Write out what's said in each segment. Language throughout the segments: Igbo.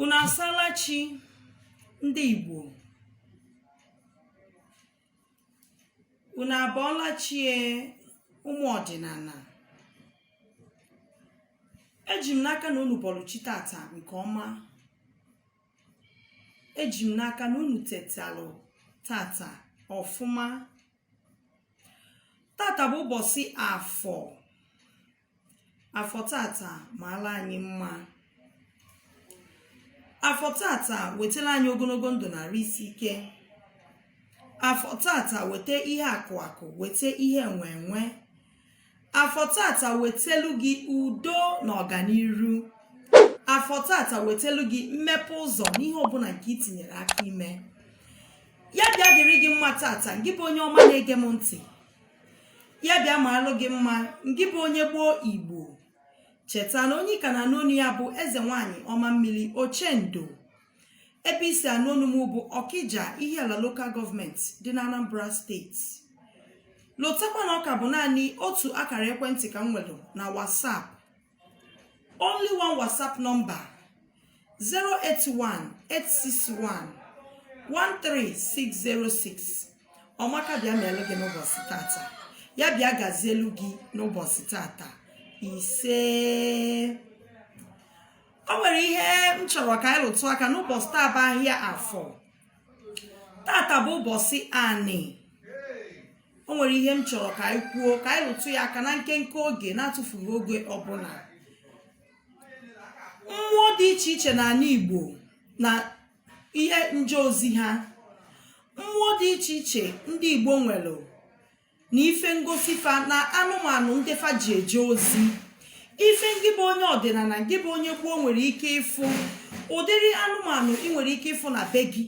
unu asala chi ndị Igbo unu abọọla chie ụmụ ọdịnana eji m n'aka na unu bọlụ chi tata nke ọma eji m n'aka na unu tetalụ tata ọfụma tata bụ ụbọsị afọ afọ tata maala anyị mma afọ tata wetala anyị ogonogo ndụ na arụ isi ike afọ tata weta ihe akụ akụ weta ihe enwe enwe afọ tata wetelu gị udo na ọganiru afọ tata wetelu gị mmepe ụzọ n'ihe ọbụna nke ị tinyere aka ime ya bịa dịrị gị mma tata ngị bụ onye ọma na-ege m ntị ya bịa maalụ gị mma ngị bụ onye gboo igbo cheta na onye ka na-anụ onu ya bụ eze nwanyị ọma mmiri ochendo ebe i si anụ onu m bụ ọkịja ihiala local government dị na anambra state notakwa na ọ ka bụ naanị otu akara ekwentị ka m nwere na whatsapp only one whatsapp number 081-861-13606 ọmaka bịa meelụ gị n'ụbọsị tata ya bịa gazielu gị n'ụbọsị tata ise o nwere ihe m chọrọ ka anyị lụtụ aka n'ụbọsị taa bụ ahịa afọ tata bụ ụbọsị anị o nwere ihe m chọrọ ka anyị kwuo ka anyị rụtụ ya aka na nkenke oge na-atụfughị oge ọbụna mmụọ dị iche iche n'anị Igbo na ihe nje ozi ha mmụọ dị iche iche ndị Igbo nwere na ife ngosi fa na anụmanụ ndị fa ji eje ozi ife ngị bụ onye ọdịnana ngị bụ onye gboo nwere ike ịfụ ụdịrị anụmanụ ị nwere ike ịfụ na be gị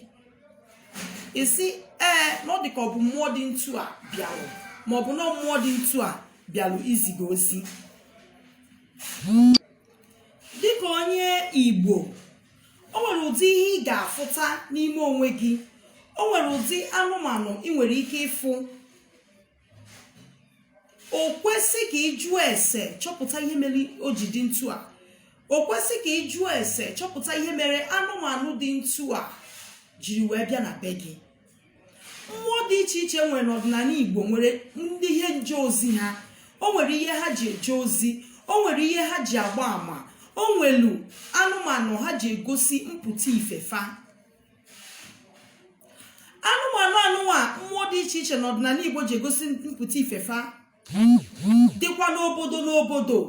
ị sị ee na ọ dị ka ọ bụ mmụọ dị ntu a bịalụ ma ọ bụ na mmụọ dị ntu a bịalụ izi gị ozi dịka onye igbo o nwere ụdị ihe ị ga-afụta n'ime onwe gị o nwere ụdị anụmanụ ị nwere ike ịfụ o kwesị ka ị jụọ ese chọpụta ihe mere o ji dị ntu a o kwesị ka ị jụọ ese chọpụta ihe mere anụmanụ dị ntu a jiri wee bịa na be gị mmụọ dị iche iche nwere n'ọdịnala igbo nwere ndị ihe nje ozi ha o nwere ihe ha ji eje ozi o nwere ihe ha ji agba ama o nwelu anụmanụ ha ji egosi mpụta ife fa anụmanụ anụnwa mmụọ dị iche iche n'ọdịnala igbo ji egosi mpụta ife fa dịkwa n'obodo n'obodo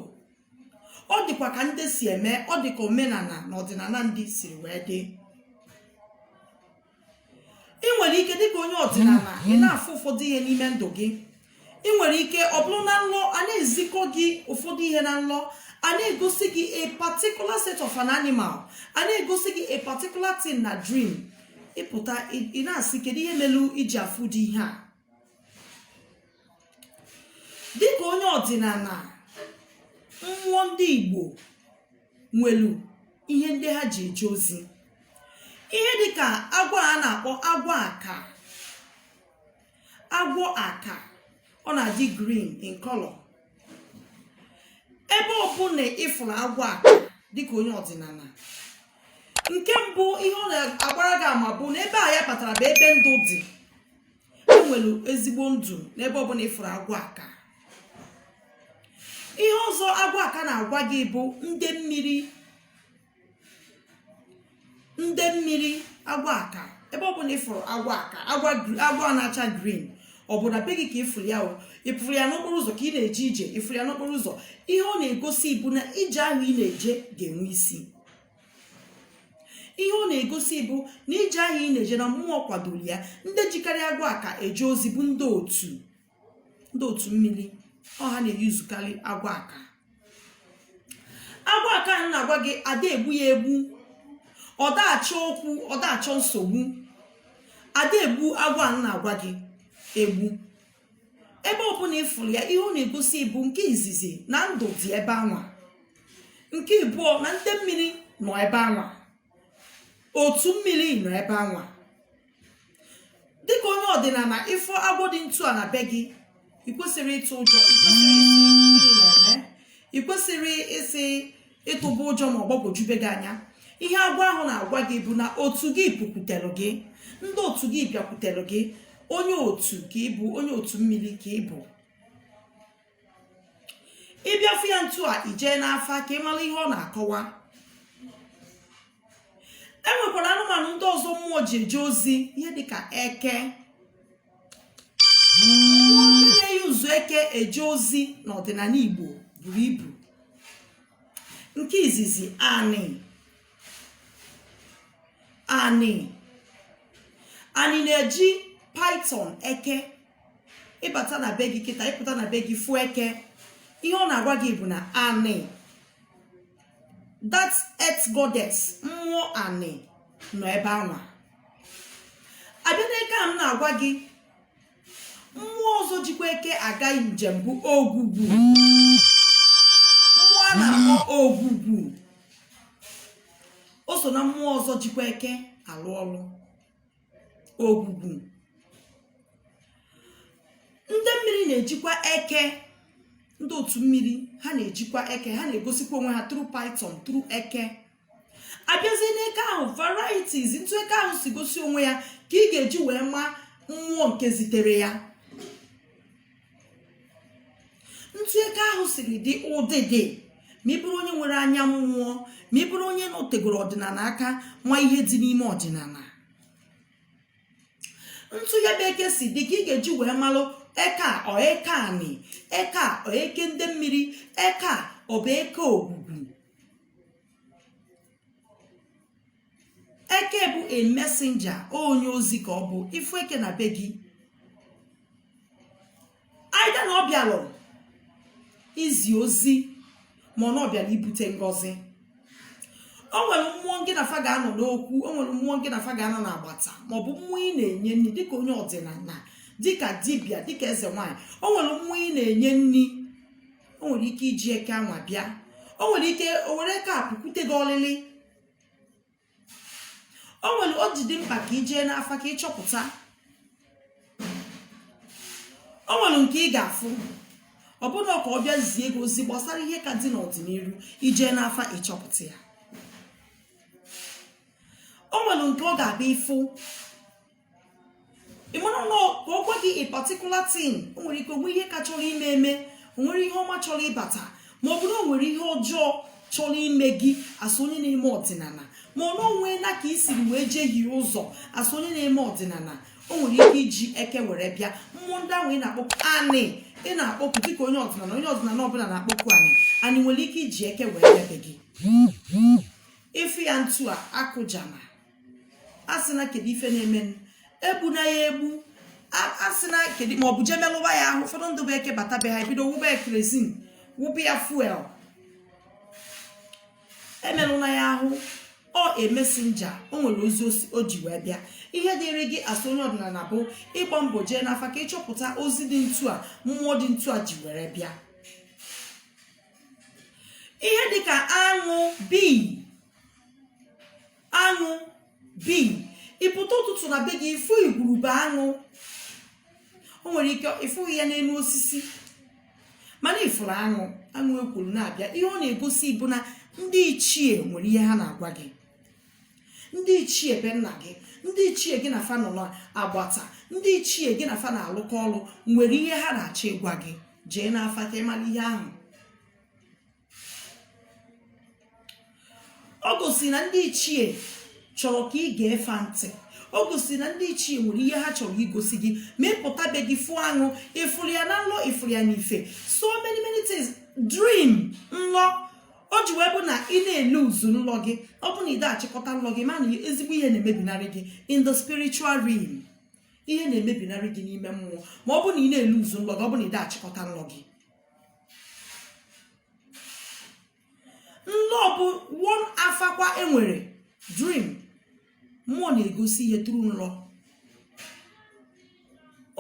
ọ dịkwa ka ndị si eme ọ dị ka omenala na ọdịnala ndị siri wee dị ị nwere ike dịka onye ọdịnala ị na-afụ ụfọdụ ihe n'ime ndụ gị ị nwere ike ọ bụrụ na nlọ a na-ezikọ gị ụfọdụ ihe na nlọ a na-egosi gị a particular set of an animal a na-egosi gị a particular thing na dream ị pụta ị- ị na-asị kedu ihe melu i ji afụ ụdị ihe a dịka onye ọdịnala mmụọ ndị igbo nwelu ihe ndị ha ji eje ozi ihe dịka agwọ a na-akpọ agwọ aka agwọ aka ọ na-adị green in color ebe ọbụla ịfụrụ agwọ aka dịka onye ọdịnala nke mbụ ihe ọ na-agbara gị ama bụ na ebe a ya batara bụ ebe ndụ dị enwere ezigbo ndụ n'ebe ọbụla ịfụrụ agwọ aka ihe ọzọ agwọ aka na-agwa gị bụ ndị mmiri ndị mmiri agwọ aka ebe ọbụla ịfụrụ agwọ aka agwọ na-acha green ọ bụ na be gị ka ịfụrụ ya ịfụrụ ya n'okporo ụzọ ka ị na-eje ije ịfụrụ ya n'okporo ụzọ ihe ọ na-egosi bụ na ije ahụ ị na-eje ga-enwe isi ihe ọ na-egosi bụ na ije ahụ ị na-eje na mmụọ kwadoro ya ndị jikarị agwọ aka eje ozi bụ ndị otu ndị otu mmiri ọ ha na-eyuzukarị agwọ aka agwọ aka a m na-agwa gị ada egbu ya egbu ọ daachọ okwu ọ daachọ nsogbu ada egbu agwọ a m na-agwa gị egbu ebe ọbụla ịfụrụ ya ihe ọ na-egosi bụ nke izizi na ndụ dị ebe anwa nke ịbụọ na ndị mmiri nọ ebe anwa otu mmiri nọ ebe anwa dịka onye ọdịnala ịfụ agwọ dị ntu a na be gị ị kwesịrị ịtụ ụjọ ị kwesịrị ịsị gịnị na-eme ị kwesịrị ịsị ịtụba ụjọ ma ọ gbagwojube gị anya ihe agwọ ahụ na-agwa gị bụ na otu gị pụkwutere gị ndị otu gị bịakwutere gị onye otu ka ịbụ onye otu mmiri ka ịbụ ị bịa fụ ya ntu a i jee n'afa ka ị mara ihe ọ na-akọwa e nwekwara anụmanụ ndị ọzọ mmụọ ji eje ozi ihe dịka eke ndị na-eyuzu eke eje ozi n'ọdịnala igbo buru ibu nke izizi anị anị anị na-eji python eke ị bata na be gị kịta ị pụta na be gị fụ eke ihe ọ na-agwa gị bụ na anị that earth goddess mmụọ anị nọ ebe anwa a bịa n'eke a m na-agwa gị mmụọ ọzọ jikwa eke aga njem bụ ogwugwu mmụọ a na-akpọ ogwugwu o so na mmụọ ọzọ jikwa eke alụ ọlụ ogwugwu ndị mmiri na-ejikwa eke ndị otu mmiri ha na-ejikwa eke ha na-egosikwa onwe ha through python through eke a bịazie n'eke ahụ varieties ntu eke ahụ si gosi onwe ya ka ị ga-eji wee ma mmụọ nke zitere ya ntu eke ahụ siri dị ụdịdị ma ị bụrụ onye nwere anya mmụọ ma ị bụrụ onye nọtegoro ọdịnala aka ma ihe dị n'ime ọdịnala ntu ya bụ eke si dị ka ị ga-eji wee malụ eke a ọ eke anị eke a ọ eke ndị mmiri eke a ọ bụ eke ogwugwu eke bụ a messenger onye ozi ka ọ bụ ị fụ eke na be gị either na ọ bịalụ izi ozi ma ọ na ọ bịara ibute ngọzi o nwere mmụọ ngị na fa ga-anọ n'okwu o nwere mmụọ ngị na fa ga-anọ n'agbata maọbụ mmụọ ị na-enye nri dịka onye ọdịnala dịka dibịa dịka eze nwaanyị o nwere mmụọ ị na-enye nri o nwere ike iji eke anwa bịa o nwere ike o were eke a pụkwute gị ọlịlị o nwere o ji dị mkpa ka i jee n'afa ka ị chọpụta o nwere nke ị ga-afụ ọ bụrụ na ọ ka ọ bịa zie gị ozi gbasara ihe ka dị n'ọdịnihu i jee n'afa ị chọpụta ya o nwere nke ọ ga-abịa ị fụ ị mara na ka ọ gwa gị a particular thing o nwere ike o nwee ihe ka chọrọ ime eme o nwere ihe ọma chọrọ ịbata ma ọ bụrụ o nwere ihe ọjọọ chọrọ ime gị as onye na-eme ọdịnala ma ọ na o nwee na ka i siri wee jehie ụzọ as onye na-eme ọdịnala o nwere ike iji eke were bịa mmụọ ndị ahụ ị na-akpọku anị ị na-akpọku dịka onye ọdịnala onye ọdịnala ọbụla na-akpọku anị anị nwere ike iji eke were bịa be gị ị fụ ya ntu a akụjana a sị na kedu ife na-eme egbuna ya egbu a sị na kedu ma ọ bụ jee melụba ya ahụ ụfọdụ ndị bụ eke bata be ha e bido wụba ya kerosene wụba ya fuel emelụna ya ahụ ọ a messenger o nwere ozi o ji wee bịa ihe dịrị gị as onye ọdịnala bụ ịgba mbọ jee n'afa ka ị chọpụta ozi dị ntu a mmụọ dị ntu a ji were bịa ihe dịka aṅụ bee aṅụ bee ị pụta ụtụtụ na be gị ị fụ igwurube aṅụ o nwere ike ị fụghị ya n'elu osisi mana ị fụrụ aṅụ aṅụ ekwuru na-abịa ihe ọ na-egosi bụ na ndị ichie nwere ihe ha na-agwa gị ndị ichie be nna gị ndị ichie gị na fa nọ n'agbata ndị ichie gị na fa na-alụkọ ọrụ nwere ihe ha na-achọ ịgwa gị jee n'afa ka ị mara ihe ahụ o gosi na ndị ichie chọrọ ka i gee fa ntị o gosi na ndị ichie nwere ihe ha chọrọ igosi gị ma ị pụta be gị fụ aṅụ ị fụrụ ya na nlọ ị fụrụ ya n'ife so many many things dream nlọ o ji wee bụ na ị na-eluzu nlọ gị ọ bụ na ị da-achịkọta nlọ gị ma na ezigbo ihe na-emebinarị gị in the spiritual realm ihe na-emebinarị gị n'ime mmụọ ma ọ bụ na ị na-eluzu nlọ gị ọ bụ na ị da-achịkọta nlọ gị nlọ bụ one afa kwa e nwere dream mmụọ na-egosi ihe through nlọ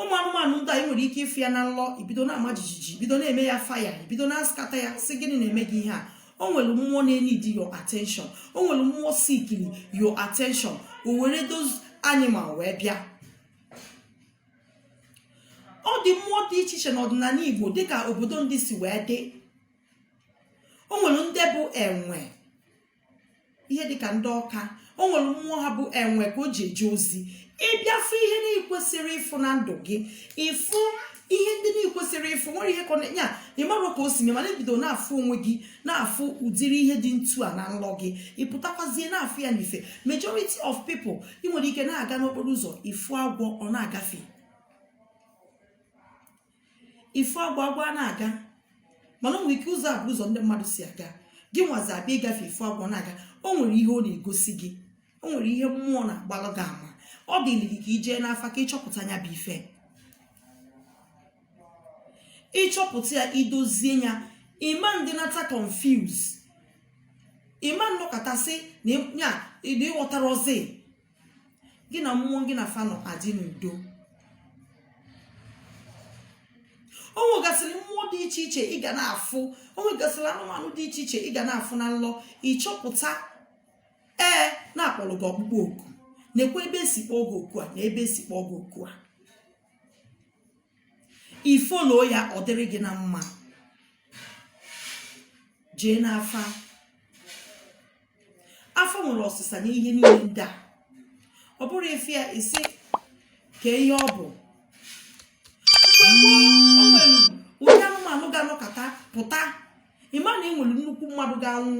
ụmụ anụmanụ ndị a i nwere ike ịfụ ya na nlọ i bido na-ama jijiji i bido na-eme ya fire i bido na-askata ya sị gịnị na-eme gị ihe a o nwere mmụọ na-eneed your attention o nwere mmụọ sikiri your attention o were those animal wee bịa ọ dị mmụọ dị iche iche n'ọdịnala igbo dịka obodo ndị si wee dị o nwere ndị bụ enwe ihe dịka ndị ọka o nwere mmụọ ha bụ enwe ka o ji eje ozi ị bịa fụ ihe na-ekwesịrị ịfụ na ndụ gị ị fụ ihe ndị na-ekwesịrị ịfụ nwere ihe kọna ya ị mara ka o si mee mana i bido na-afụ onwe gị na-afụ ụdịrị ihe dị ntu a na nlọ gị ị pụtakwazie na-afụ ya n'ife majority of people i nwere ike na-aga n'okporo ụzọ ị fụ agwọ ọ na-agafe ị fụ agwọ agwọ a na-aga mana o nwere ike ụzọ a bụ ụzọ ndị mmadụ si aga gị nwazi abịa ịgafe ị fụ agwọ na-aga o nwere ihe ọ na-egosi gị o nwere ihe mmụọ na-agbalụ gị ama ọ dịrị gị ka i jee n'afa ka ị chọpụta nya bụ ife ị chọpụta ya i dozie ya ị ma ndị nata confuse ị ma nọkata sị na ya ị ghọtara ozi gị na mmụọ gị na fa nọ adị n'udo o nwegasịrị mmụọ dị iche iche ị ga na-afụ o nwegasịrị anụmanụ dị iche iche ị ga na-afụ na nlọ ị chọpụta ee na-akpọrọ gị ọkpụkpọ oku nekwa ebe e si kpọọ gị oku a nee ebe e si kpọọ gị oku a ị fụlụ ya ọ dịrị gị na mma jee n'afa afa nwere ọsịsa na ihe niile ndị a ọ bụrụ ife a isi ka ihe ọ bụ mgbe gboo o nwere ụdị anụmanụ ga-anọkata pụta ị ma na e nwere nnukwu mmadụ ga-anwụ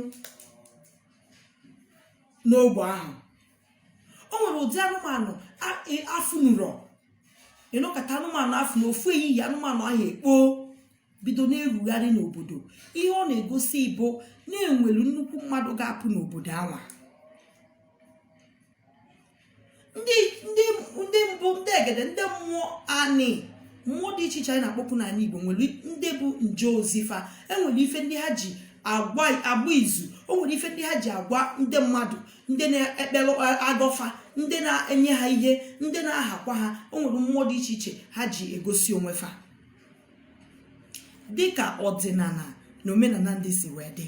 n'ogbe ahụ o nwere ụdị anụmanụ afụnurọ ị nọkata anụmanụ afụ na ofu ehihie anụmanụ ahụ ekpoo bido na-erugharị n'obodo ihe ọ na-egosi bụ na e nwelu nnukwu mmadụ ga-apụ n'obodo anwa ndị mbụ ndị egede ndị mmụọ anị mmụọ dị iche iche anyị na-akpọku n'ala Igbo nwere ndị bụ nje ozi fa e nwere ife ndị ha ji agba izu o nwere ife ndị ha ji agwa ndị mmadụ ndị na-ekpere agọ fa ndị na-enye ha ihe ndị na-ahakwa ha o nwere mmụọ dị iche iche ha ji egosi onwe fa dịka ọdịnala na omenala ndị si wee dị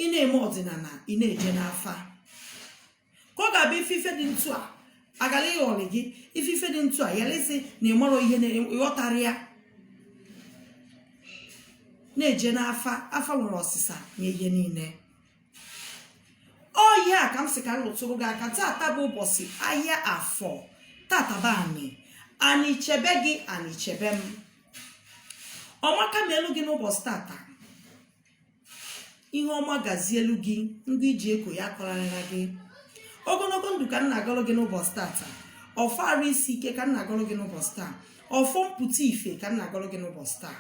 ị na-eme ọdịnala ị na-eje n'afa ka ọ ga-abụ ị fụ ife dị etu a agala ịghọrị gị ị fụ ife dị etu a yara ịsị na ị marọ ihe na ị ghọtarọ ya na-eje n'afa afa nwere ọsịsa na ihe niile ọ ya ka m sị ka m lụtụrụ gị aka tata bụ ụbọchị ahịa afọ tata bụ anị anị chebe gị anị chebe m ọma ka na-elu gị n'ụbọchị tata ihe ọma gazielu gị nke e ji eko ya akọrarịra gị ogologo ndụ ka m na-agọrọ gị n'ụbọchị tata ọfọ arụ isi ike ka m na-agọrọ gị n'ụbọchị taa ọfọ mpụta ife ka m na-agọrọ gị n'ụbọchị taa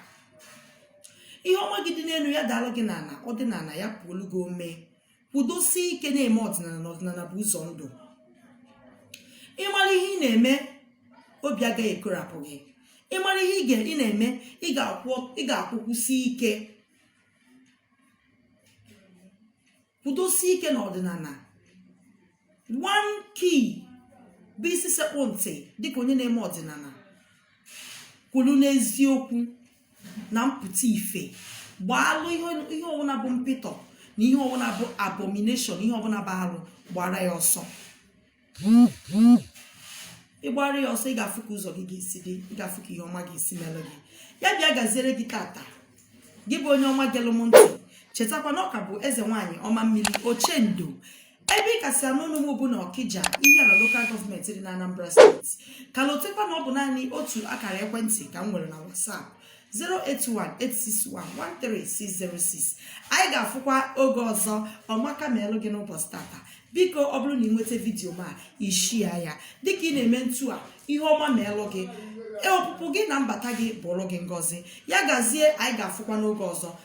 ihe ọma gị dị n'elu ya daalụ gị n'ala ọ dị n'ala ya puolu gị ome kwudosie ike na-eme ọdịnala na ọdịnala bụ ụzọ ndụ ị mara ihe ị na-eme obi agaghị ekorapụ gị ị mara ihe ị ga- ị na-eme ị ga-akwụ- ị ga-akwụkwụsi ike kwudosie ike na ọdịnala nke bụ isi sekpụ ntị dịka onye na-eme ọdịnala kwụlụ n'eziokwu na mpụta ife gbaalụ ihe ọbụla bụ mpịtọ na ihe ọbụla bụ abomination ihe ọbụla bụ arụ gbara ya ọsọ ị gbara ya ọsọ ị ga-afụ ka ụzọ gị ga-esi dị ị ga-afụ ka ihe ọma ga-esi mere gị ya bịa gaziere gị tata gị bụ onye ọma gelụ m ntị chetakwa na ọ ka bụ eze nwaanyị ọma mmiri ochendo ebe ị ka si anụ ọnụ m bụ na ọkija ihiala lokal gọọmenti dị na anambra steeti ka lotekwa na ọ bụ naanị otu akara ekwentị ka m nwere na whatsapp 08186113606 anyị ga-afụkwa oge ọzọ ọmaka meelụ gị n'ụbọchị tata biko ọ bụrụ na ị nweta vidiyo m a ị share ya dịka ị na-eme ntu a ihe ọma meelụ gị ọpụpụ gị na mbata gị bụụlụ gị ngọzi ya gazie anyị ga-afụkwa n'oge ọzọ